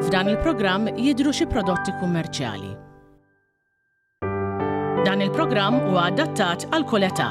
F'dan il-programm jidhru xi prodotti kummerċjali. Dan il-programm huwa adattat għal kull età.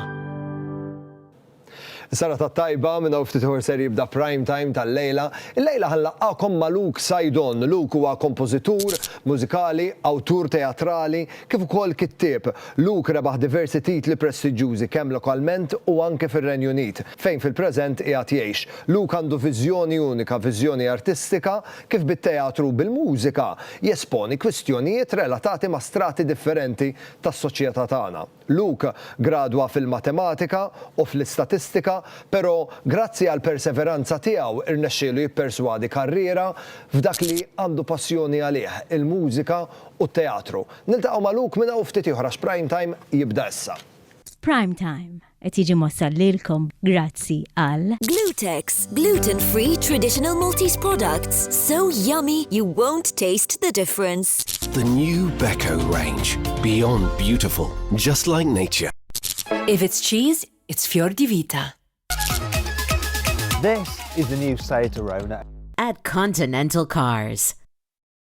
Sara ta' tajba minna u ftitħor ser jibda prime time tal-lejla. Il-lejla ħanlaqqakom ma' Luke Sajdon. Luke huwa kompożitur, mużikali, awtur teatrali, kif ukoll kittib. Luke rebaħ diversi titli prestiġġjużi kemm lokalment u anke fir-Renju Unit, fejn fil-preżent qiegħed jgħix. Luke għandu viżjoni unika, viżjoni artistika kif bit-teatru u bil-mużika jesponi kwistjonijiet relatati ma' strati differenti tas-soċjetà tagħna. Luke gradwa fil-matematika u fl-istatistika, però grazzi għall-perseveranza tiegħu rnexxielu jipperswadi karriera f'dak li għandu passjoni għalih, il-mużika u t-teatru. Niltaqgħu ma' Luke minn hawn u ftit ieħor għax Prime Time jibda issa. Prime Time qed jiġi mwassal lilkom grazzi għal. Glutex, gluten free traditional Maltese products, so yummy you won't taste the difference. The new Beko range, beyond beautiful, just like nature. If it's cheese, it's Fior di Vita. This is the new Seat Arona. At Continental Cars.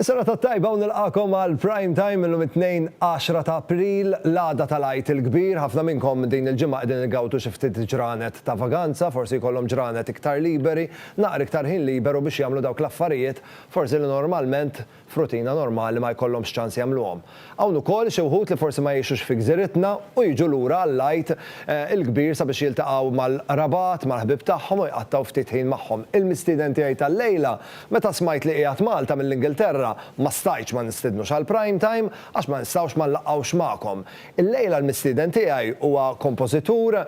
Is-serata t-tajba u nilqagħkom għal Prime Time illum it-Tnejn 10 ta' April, l-għada tal-Għid il-Kbir. Ħafna minnkom din il-ġimgħa qegħdin igawdu xi ftit ġranet ta' vaganza, forsi jkollhom ġranet iktar liberi, naqra iktar ħin liberu biex jagħmlu dawk l-affarijiet forsi li normalment f'rutina normali ma jkollhomx ċans jagħmluhom. Hawn ukoll xi wħud li forsi ma jgħixux fi gżiritna u jiġu lura għall-Għid il-Kbir sabiex jiltaqgħu mal-qrabat, mal-ħbieb tagħhom u jqattgħu ftit ħin magħhom. Il-mistieden tiegħi tal-lejla, meta smajt li qiegħed Malta mill-Ingilterra, ma stajtx ma nistidnux għal Prime Time għax ma nistgħux ma nlaqgħux magħkom. Illejla l-mistieden tiegħi huwa kompożitur,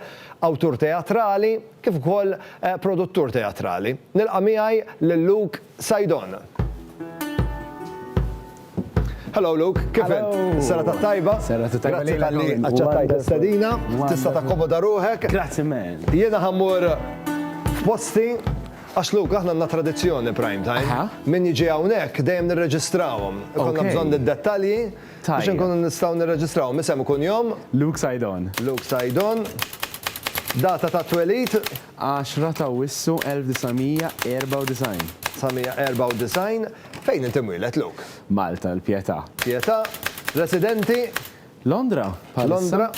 awtur teatrali kif ukoll produttur teatrali. Nilqa' miegħi lil Luke. Side on. Hello Luke, kif int? Serata tajba. Serata tajba. Grazzi tal-li aċċettajt l-istadina. Tista' takkomoda ruħek. Grazzi man. Jiena ħammur f'posti Għax Luke, aħna għandna tradizzjoni prime time. Min jiġi hawnhekk dejjem nirreġistrawhom. Konna bżonn id-dettalji biex nkunu nistgħu nirreġistrawhom. Isem ikun jom. Luke Sajdon. Luke Sajdon. Data ta' twelid. 10 ta' Awwissu 1994. 1994, Fejn inti mwieled, Luke? Malta, il-Pietà. Pietà, Residenti? Londra, bħalissa. Londra.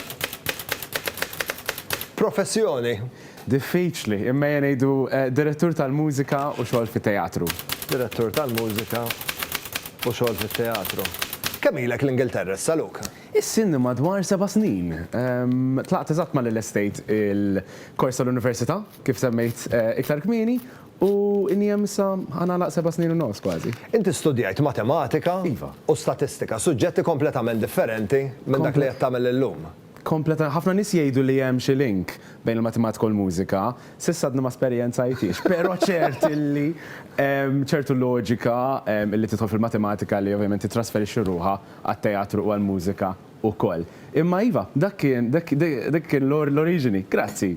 Professjoni? Diffiċli, imma ejja ngħidu Direttur tal-Mużika u xogħol fit-Teatru. Direttur tal-Mużika u xogħol fit-Teatru. Kemm ilek l-Ingilterra issa, Luke? Is-sinni madwar seba' snin. Tlaqt eżatt ma' Lil Estate il-kors tal-università, kif semmejt iktar kmieni, u inni hemm issa ħa nagħlaq seba' snin u nofs kważi. Inti studjajt matematika u statistika, suġġetti kompletament differenti minn dak li qed tagħmel illum. Kompleta, ħafna nies jgħidu li hemm xi link bejn il-matematika u l-mużika. S'issa għadni ma esperjenzajthiex, però ċert illi hemm ċertu loġika li tidħol fil-matematika li ovvjament tittrasferixxi ruħha. għat-teatru u għall-mużika wkoll. Imma iva, dak kien, dik kien l-oriġini. Grazzi.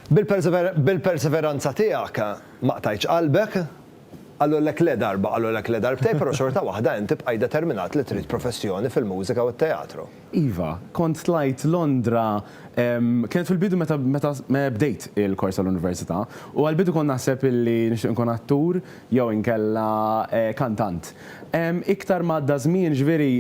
Bil-perseveranza tiegħek ma qtajtx qalbek. Qalulek le darba, qalulek le darbtejn, però xorta waħda int tibqaj determinat li trid professjoni fil-mużika u t-teatru. Iva, kont tlajt Londra, kienet fil-bidu meta bdejt il-kors tal-università, u għall-bidu kont naħseb illi nixtieq inkun attur, jew inkella kantant. Iktar ma għadda ż-żmien, jiġifieri,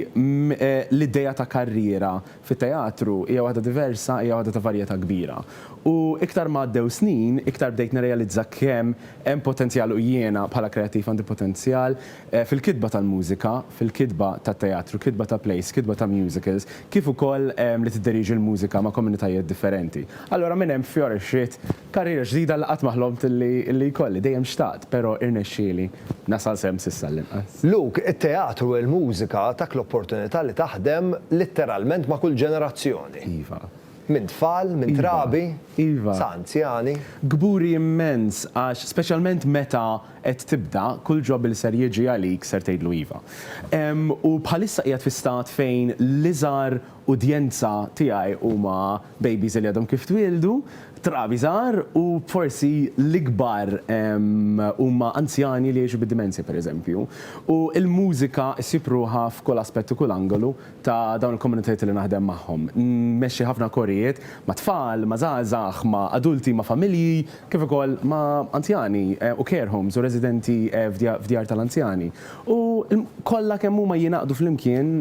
l-idea ta' karriera fit-teatru hija waħda diversa, hija waħda ta' varjetà kbira. U iktar ma għaddew snin, iktar bdejt nirrealizza kemm hemm potenzjal u jiena bħala kreattiv għandi potenzjal fil-kitba tal-mużika, fil-kitba tat-teatru, kitba ta' plays, kitba ta' musicals, kif ukoll li tidderieġi l-mużika ma' komunitajiet differenti. Allura minn hemm fjorixxiet karriera ġdida li qatt ma ħlomt li jkolli, dejjem xtaqt, però irnexxieli nasal s'hemm s'issa għall-inqas. Luke, it-teatru u l-mużika tak l-opportunità li taħdem litteralment ma' kull ġenerazzjoni. Iva. Minn tfal, minn trabi, sa anzjani. Kburi immens għax speċjalment meta qed tibda, kull job li ser jiġi għalik ser tgħidlu iva. U bħalissa qiegħed fi stat fejn l-iżgħar udjenza tiegħi huma babies li għadhom kif twieldu, trabi żgħar u forsi l-ikbar huma anzjani li jgħixu bid-dimensja pereżempju. U l-mużika ssib ruħha f'kull aspett u kull angolu ta' dawn il-komunitajiet li naħdem magħhom. Nmexxi ħafna korijiet ma' tfal, ma' żgħażagħ, ma' adulti, ma' familji, kif ukoll ma' anzjani u care homes u residenti f'djar tal-anzjani u kollha kemm huma jingħaqdu flimkien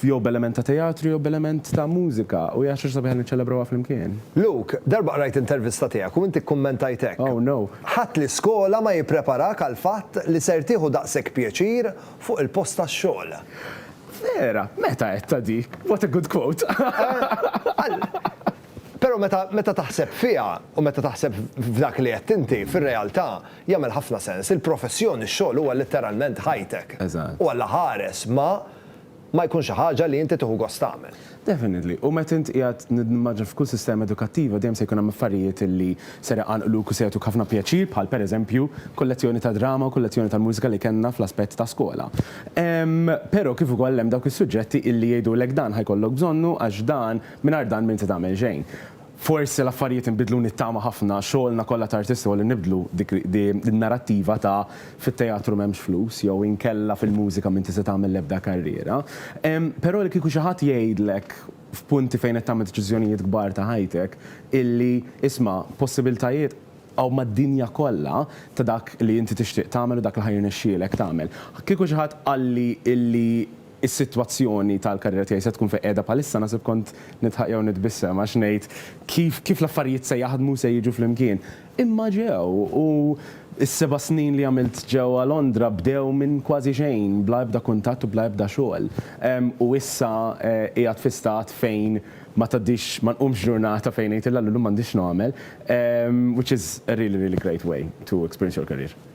jew b'element ta' teatru jew b'element ta' mużika u hija xi ħaġa sabiħa li niċċelebrawha flimkien. Luke, darba qrajt intervista tiegħek u inti kkummentajt hekk, Oh no. Ħadd l-iskola ma jippreparak għall-fatt li ser tieħu daqshekk pjaċir fuq il-post tax-xogħol. Vera? Meta għedtha dik? What a good quote! Għal. Però meta meta taħseb fiha, u meta taħseb f'dak li għedt inti, fir-realtà, jagħmel ħafna sens. Il-professjoni, x-xogħol huwa litteralment ħajtek. Eżatt. U Alla ħares ma ma jkun xi ħaġa li inti tieħu gost tagħmel. Definitely. U meta int qiegħed nimmaġina f'kull sistema edukattiva dejjem se jkun hemm affarijiet li ser iqanqluk u se jagħtuk ħafna pjaċir bħal pereżempju kull lezzjoni ta' drama u kull lezzjoni tal-mużika li kellna fl-aspett ta' skola. Ehm, però kif ukoll hemm dawk is-suġġetti illi jgħidulek dan ħa jkollok bżonnu għax dan Mingħajr dan m'inti tagħmel xejn. Forsi l-affarijiet inbidlu nittama ħafna, xogħolna kollha ta' artisti huwa li nibdlu dik in-narattiva ta' fit-teatru m'hemmx flus jew inkella fil-mużika m'inti se tagħmel l-ebda karriera. Però li kieku xi ħadd jgħidlek f'punti fejn qed tagħmel deċiżjonijiet kbar ta' ħajtek illi isma' possibiltajiet hawn mad-dinja kollha ta' dak li inti tixtieq tagħmel u dak li ħa jirnexxielek tagħmel. Kieku xi ħadd qalli illi is-sitwazzjoni tal-karriera tiegħi se tkun fejn qiegħda bħalissa naħseb kont nidħaq jew nitbissem għax ngħid kif kif l-affarijiet se jaħdmu u se jiġu flimkien. Imma ġew u s-seba' snin li għamilt ġewwa Londra bdew minn kważi xejn, bla ebda kuntatt u bla ebda xogħol. U issa qiegħed fi stat fejn ma tgħaddix ma nqumx ġurnata fejn ngħid 'il Alla llum m'għandix x'nagħmel', which is a really really great way to experience your career.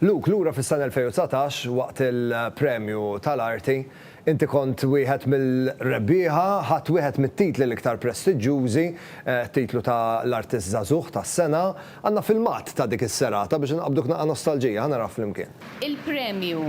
Luke, lura fis-sena 2019 waqt il-Premju tal-Arti, inti kont wieħed mill-rebbieħa, ħadt wieħed mit-titli l-iktar prestiġġjużi, t-titlu ta' l-Artist Żagħżugħ tas-Sena. Għandna filmat ta' dik is-serata biex inqabbduk naqqa' nostalġija, ħa naraha flimkien. Il-Premju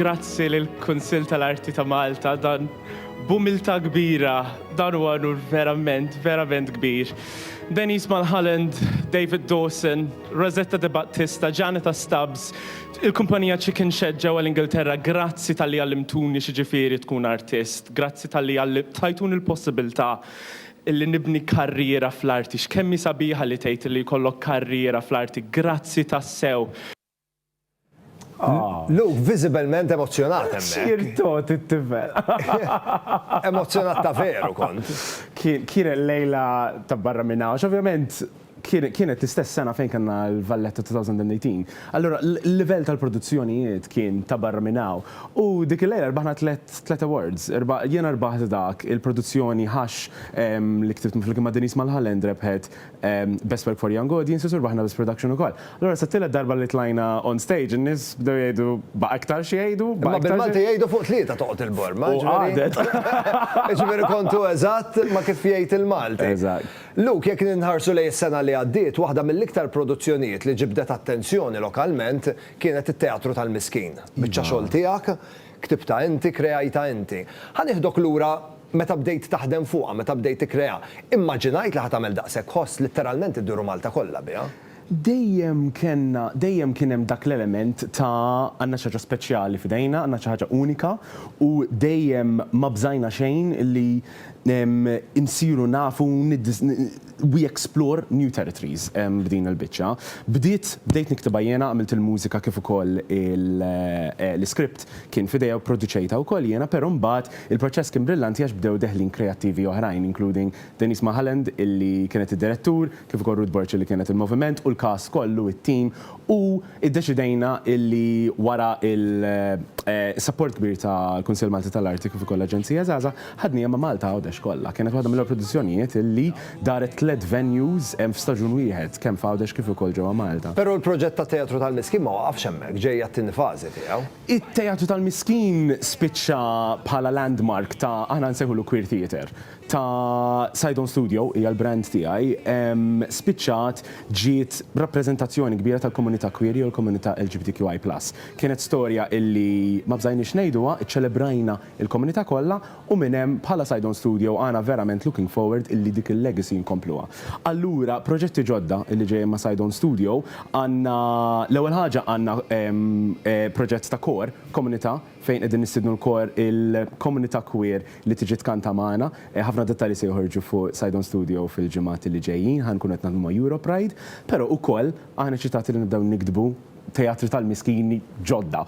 Grazzi lill kunsill tal-Arti ta' Malta dan b'umiltà kbira dan huwa nur verament, verament kbir. Denise Mulholland, David Dawson, Rosetta De Battista, Janita Stubbs, Il-kumpanija Chicken Shed ġewwa l-Ingilterra grazzi talli għallimtuni x'jiġifieri tkun artist, grazzi talli tajtuni l-possibilità li nibni karriera fl-arti. X'kemm hi sabiħa li tgħid illi jkollok karriera fl-arti. Grazzi tassew. Luke visibilment emozzjonat hemmhekk. Cheer togħti t-tifel. Emozzjonat ta' veru kont. Kienet lejla ta' barra minn hawn. Ovvjament kienet l-istess sena fejn kellna l-Valletta 2018. Allura l-livell tal-produzzjonijiet kien ta' barra minn hawn. U dik il-lejla rbaħna tliet awards. Jiena rbaħt dak, il-produzzjoni Ħax li ktibt flimkien ma' Denise Mulholland rebħet Best Work for Young Audiences u rbaħna Best Production ukoll. Allura sat-tielet darba li tlajna on stage in-nies bdew jgħidu baqa' iktar xi jgħidu, baqa' iktar xi. Imma bil-Malti jgħidu fuq tlieta toqgħod il-borma, jiġifieri. U qagħdet. Jiġifieri kontu eżatt ma' kif jgħid il-Malti. Eżatt. Luke, jekk ninħarsu lejn is-sena li għaddiet, waħda mill-iktar produzzjonijiet li ġibdet attenzjoni lokalment kienet it-Teatru tal-Miskin. Biċċa xogħol tiegħek, ktibtha inti, kreajtha inti. Ħa nieħdok lura meta bdejt taħdem fuqha, meta bdejt tikkreaha. Immaġinajt li ħa tagħmel daqshekk ħoss, litteralment idduru Malta kollha biha? dejjem kellna, dejjem kien hemm dak l-element ta' għandna xi ħaġa speċjali f'idejna, għandna xi ħaġa unika u dejjem ma bżajna xejn li nsiru nafu we explore new territories b'din il-biċċa. Bdiet, bdejt niktibha jiena, għamilt il-mużika kif ukoll l-iskript kien f'idejja u pproduċejtha wkoll jiena, però mbagħad il-proċess kien brillanti għax bdew deħlin kreattivi oħrajn including Denise Mulholland illi kienet id-Direttur, kif ukoll Ruth Burchill li kienet il-Moviment u l-cast kollu, it-team, u iddeċidejna illi wara l-sapport kbir tal-Kunsill Malti tal-Arti kif ukoll l-Aġenzija Żgħażagħ, ħadniha ma' Malta Għawdex kollha. Kienet waħda mill-ewwel produzzjonijiet illi daret tliet venues f'staġun wieħed, kemm f'Għawdex kif ukoll ġewwa Malta. Però l-proġett tat-Teatru tal-Miskin ma waqafx hemmhekk, ġejja t-tieni fażi tiegħu. It-Teatru tal-Miskin spiċċa bħala landmark ta' aħna nsejħulu Queer Theatre. ta' Side On Studio, hija l-brand tiegħi, spiċċat ġiet rappreżentazzjoni kbira tal-komunità queer jew il-komunità LGBTQI plus. Kienet storja illi ma bżajniex ngħiduha, iċċelebrajna l-komunità kollha u minn hemm bħala Side On Studio aħna verament looking forward illi dik il-legacy nkompluha. Allura proġetti ġodda illi ġejjin ma' Side On Studio, għandna l-ewwel ħaġa għandna proġett ta' kor, komunità, fejn qegħdin nistiednu l-kor il-komunità queer li tiġi tkanta magħna. Ħafna dettalji se joħorġu fuq Side On Studio fil-ġimgħat li ġejjin. Ħa nkunu qed naħdmu ma' Europride, però ukoll aħna eċitati li nibdew niktbu teatri tal-miskin ġodda,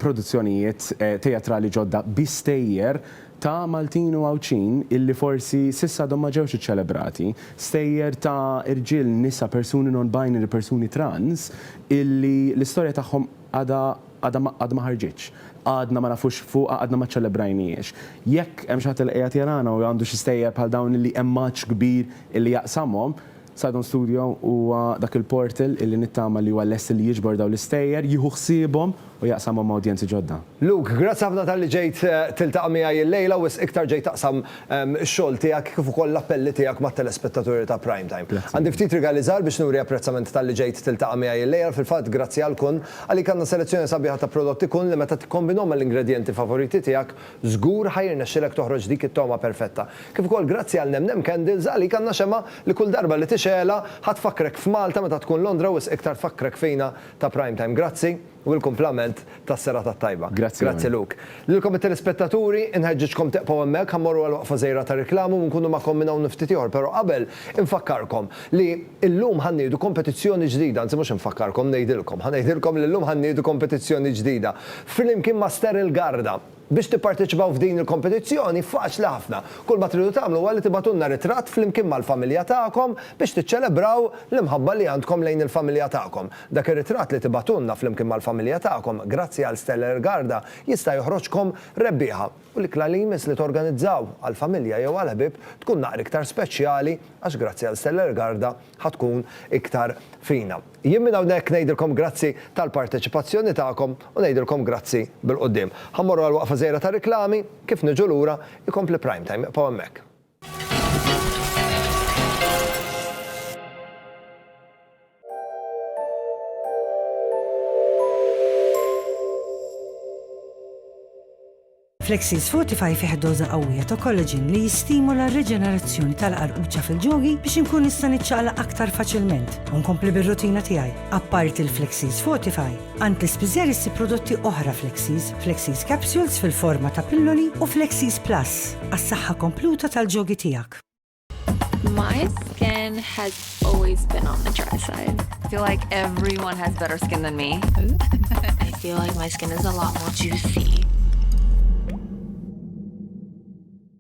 produzzjonijiet teatrali ġodda bi stejjer ta' Maltin u Għawdxin illi forsi s'issa għadhom ma ġewx iċċelebrati, stejjer ta' irġiel, nisa, persuni non-binary, persuni trans illi l-istorja tagħhom għadha Għadha ma ħarġitx. Għadna ma nafux fuqha, għadna ma ċċelebrajnihiex. Jekk hemm xi ħadd li qiegħed jarana u għandu xi stejjer bħal dawn illi hemm għatx kbir illi jaqsamhom, Sidon Studio huwa dak il-portal illi nittama li huwa lest illi jiġbor dawn l-istejjer, jieħu ħsiebhom u jaqsamhom ma' udjenzi ġodda. Luke, grazzi ħafna talli ġejt tiltaqa' miegħi illejla u wisq iktar ġejt taqsam ix-xogħol tiegħek kif ukoll l-appelli tiegħek mat-telespettaturi ta' Primetime. Għandi ftit rigali żgħar biex nuri apprezzament talli ġejt tiltaqa' miegħi illejla, fil-fatt grazzi għal kun. Għalik għandna selezzjoni sabiħa ta' prodotti kun li meta tikkombinhom mal-ingredjenti favoriti tiegħek, żgur ħa jirnexxilek toħroġ dik it-togħma perfetta. Kif ukoll grazzi għal Nem Nem Candles, għalik għandna xemgħa li kull darba li tixgħelha ħa tfakkrek f'Malta meta tkun Londra wisq iktar tfakkrek fina ta' Prime Time. Grazzi u l-kumplament tas-serata t-tajba. Grazzi Lorna. Grazzi Luke. Lilkom it-telespettaturi, inħeġġiġkom tieqpaw hemmhekk, ħa mmorru għal waqfa żgħira ta' riklami u nkunu magħkom minn hawn u ftit ieħor, però qabel, Infakkarkom li llum ħa nniedu kompetizzjoni ġdida, anzi mhux infakkarkom, ngħidilkom, ħa ngħidilkom li llum ħa nniedu kompetizzjoni ġdida flimkien ma' Sterile Garda. Biex tipparteċipaw f'din il-kompetizzjoni faċli ħafna. Kull ma tridu tagħmlu huwa li tibgħatulna ritratt flimkien mal-familja tagħkom biex tiċċelebraw l-imħabba li għandkom lejn il-familja tagħkom. Dak ir-ritratt li tibgħatulna flimkien mal-familja tagħkom, grazzi għal Sterile Garda, jista' joħroġkom rebbieħa. u l-ikla li jmiss li torganizzaw għall-familja jew għall-ħbieb tkun naqra iktar speċjali għax grazzi għal Stella Ergarda ħa tkun iktar fina. Jien minn hawnhekk ngħidilkom grazzi tal-parteċipazzjoni tagħkom u ngħidilkom grazzi bil-quddiem. Ħa mmorru għal waqfa żgħira tar-riklami, kif niġu lura, ikompli Primetime, ibqgħu hemmhekk. Flexis Fortify fih doża qawwija ta' kollaġin li jistimula r-riġenerazzjoni tal-qarquċċa fil-ġogi biex inkun nista' niċċaqla aktar faċilment u nkompli bir-rutina tiegħi. Apparti l-Flexis Fortify, Għand l-ispiżer issib prodotti oħra Flexies, Flexies Capsules fil-forma ta' pilloli u Flexies Plus għas-saħħa kompluta tal-ġogi tiegħek. My skin has always been on the dry side. I feel like everyone has better skin than me. I feel like my skin is a lot more juicy.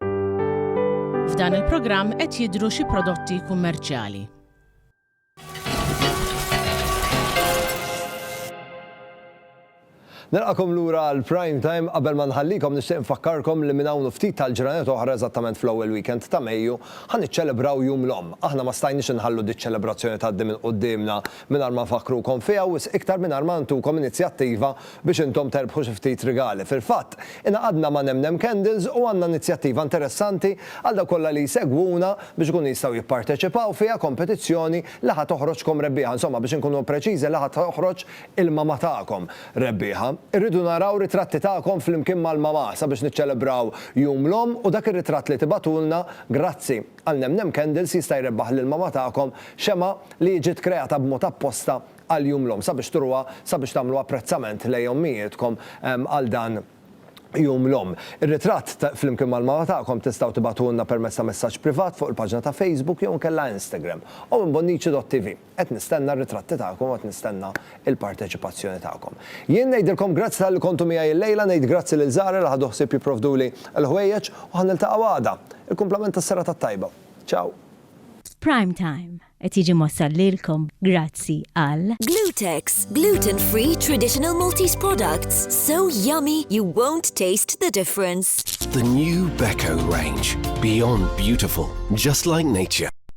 F'dan il-programm qed jidhru xi prodotti kummerċjali. Nilqakom lura għal prime time qabel ma nħallikom nixtieq nfakkarkom li minn hawn ftit tal-ġranet oħra eżattament fl-ewwel weekend ta' Mejju ħa niċċelebraw jum l-omm. Aħna ma stajniex inħallu diċ-ċelebrazzjoni tgħaddi minn quddiemna Mingħajr ma nfakkrukom fiha wisq iktar mingħajr ma ntukom inizjattiva biex intom terbħu xi ftit rigali. Fil-fatt, ingħaqadna ma' Nemnem Candles u għandna inizjattiva interessanti għal dawk kollha li jsegwuna biex ikunu jistgħu jipparteċipaw fiha, kompetizzjoni li ħa toħroġkom rebbieħa, insomma biex inkunu preċiżi li ħa toħroġ il-mama tagħkom rebbieħa. Irridu naraw ritratti tagħkom flimkien mal-mama sabiex niċċelebraw Jum l-Omm u dak ir-ritratt li tibgħatulna, grazzi. Għal Nemnem Candles jista' jrebbaħ lill-mama tagħkom xemgħa li ġiet kreata b'mod apposta għal Jum l-Omm sabiex turuha sabiex tagħmlu apprezzament lejn ommijietkom għal dan Jum l-Omm. Ir-ritratt flimkien mal-mama tagħkom tistgħu tibagħtuhulna permezz ta' messaġġ privat fuq il-paġna ta' Facebook jew inkella Instagram, omm in bonnici dot TV. Qed nistenna r-ritratti tagħkom u qed nistenna l-parteċipazzjoni tagħkom. Jien ngħidilkom grazzi talli kontu miegħi illejla, ngħid grazzi lil Zahra li ħadu ħsieb jipprovduli l-ħwejjeġ u ħa niltaqgħu għada. Il-kumplament tas-serata t-tajba. Ciao! Prime Time qed jiġi mwassal lilkom grazzi għal. Glutex, gluten free traditional Maltese products, so yummy you won't taste the difference. The new Beko range, beyond beautiful, just like nature.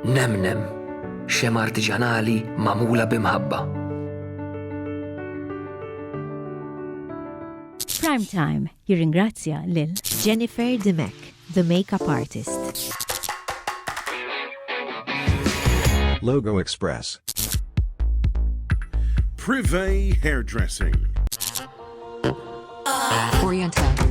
Nemnem, xema artiġanali magħmula bi mħabba. Prime Time jirringrazzja lil Jennifer Dimek, the makeup artist. Logo Express. Privé Hairdressing. Oriental.